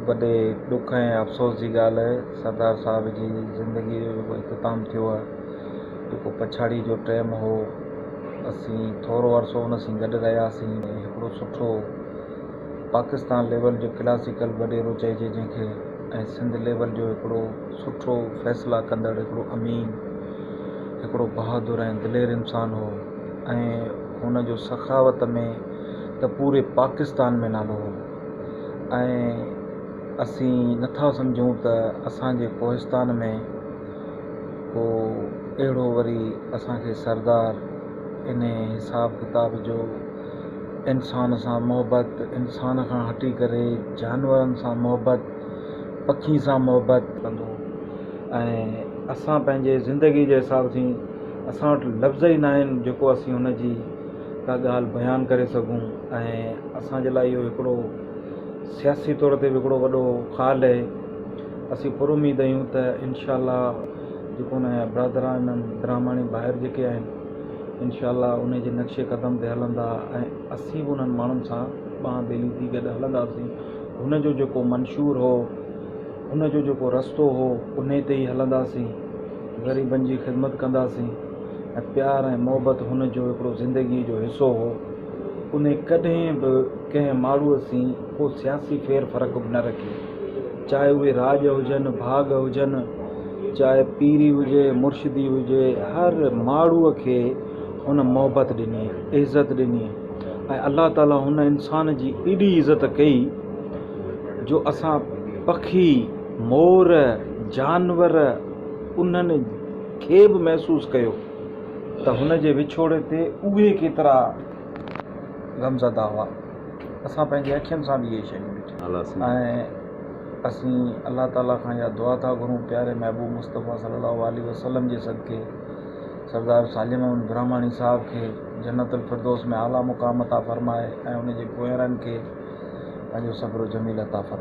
وڏي ڏک ۽ افسوس جي ڳالهه سردار صاحب جي زندگيء جو جيڪو اختتام ٿيو آهي، جيڪو پڇاڙيء جو ٽيم هو، اسين ٿورو عرصو ان سين گڏ رهياسين ۽ هڪڙو سٺو پاڪستان ليول جو ڪلاسيڪل وڏيرو چئجي جنهن کي ۽ سنڌ ليول جو هڪڙو سٺو فيصلا ڪندڙ هڪڙو امين، هڪڙو بهادر ۽ دلير انسان هو ۽ هن جو سخاوت ۾. ته پوري پاڪستان ۾ نالو هو ۽ اسين نٿا سمجهون ته اسان جي ڪوهستان ۾ ڪو اهڙو وري اسان کي سردار انهي حساب ڪتاب جو انسان سان محبت انسان کان هٽي ڪري جانورن سان محبت پکين سان محبت ڪندو ۽ اسان پنهنجي زندگي جي حساب سين اسان وٽ لفظ ئي ناهن جيڪو اسين هن جي ڪا ڳالهه بيان ڪري سگهون ۽ اسان جي لاء اهو هڪڙو سياسي طور تي به هڪڙو وڏو خال اهي اسين پر اميد اهيون ته انشاء الله جيڪو ان جا برادران ۽ برهماڻي ڀائر جيڪي آهن انشاء الله ان جي نقشي قدم تي هلندا ۽ اسين به انهن ماڻهن سان ٻانهن ٻيلي ٿي گڏ هلنداسين هن جو جيڪو منشور هو ان جو جيڪو رستو هو انهي تي ئي هلنداسين، غريبن جي خدمت ڪنداسين ۽ پيار ۽ محبت هن جو هڪڙو زندگي جو حصو هو، انهي ڪڏهن به ڪنهن ماڙهوء سين ڪو سياسي ڦير فرق به نه رکي، چاهي اهي راڄ هجن، ڀاڳ هجن، چاهي پيري هجي، مرشدي هجي، هر ماڙهوء کي هن محبت ڏني، عزت ڏني ۽ الله تعاليٰ هن انسان جي ايڏي عزت ڪئي، جو اسان پکي، مور، جانور انهن کي به محسوس ڪيو ته هن جي وڇوڙي تي اهي ڪيترا غمزده هئا. اسان پنهنجي اکين سان به اهي شيون ڏٺيون ۽ اسين الله تعاليٰ کان اها دعا ٿا گهرون پياري محبوب مصطفيٰ صلي الله عليه وسلم جي صدقي سردار سالم احمد براهماڻي صاحب کي جنت الفردوس ۾ اعليٰ مقام عطا فرمائي ۽ ان جي پويارن کي پنهنجو صبر جميل عطا فرمائي.